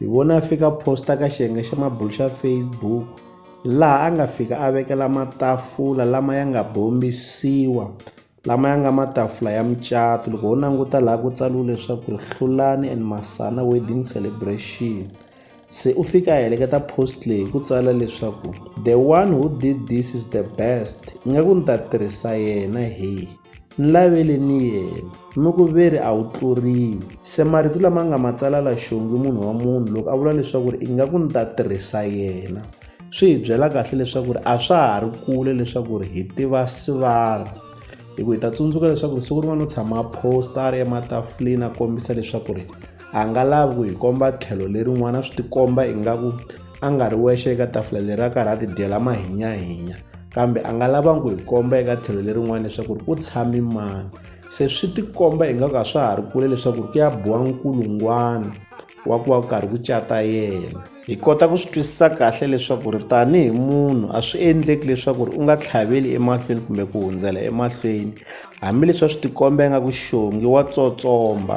Hi vone a fika posta ka xiyenge xa mabulu xa Facebook laha a nga fika a vekela matafula lama ya nga bombisiwa lama ya nga matafula ya mucato loko ho languta laha ku tsariwe leswaku ri hlulani and masana wedding celebration se u fika a heleketa post leyi hi ku tsala leswaku the one who did this is the best ingaku ni ta tirhisa yena heyi Nlavele ni yena, mi ku ve ri a wu tluriwi. Se marito lama nga ma tsala la xongi munhu wa munhu loko a vula leswaku ri ingaku ni ta tirhisa yena, swi hi byela kahle leswaku ri a swa ha ri kule leswaku ri hi tiva Sivara. Hi ku hi ta tsundzuka leswaku ri siku rin'wana u tshama a post-a a ri ematafuleni a kombisa leswaku ri. A nga lavi ku hi komba tlhelo lerin'wana swi tikomba ingaku a nga ri wexe eka tafula leri a karhi a tidyela mahinyahinya kambe a nga lavangi ku hi komba eka tlhelo lerin'wana leswaku ri ku tshami mani se swi tikomba ingaku a swa ha ri kule leswaku ri ku ya biwa nkulungwana wa ku va ku karhi ku cata yena hi kota ku swi twisisa kahle leswaku ri tanihi munhu a swi endleki leswaku ri u nga tlhaveli emahlweni kumbe ku hundzela emahlweni hambileswi a swi tikomba ingaku xongi wa tsotsomba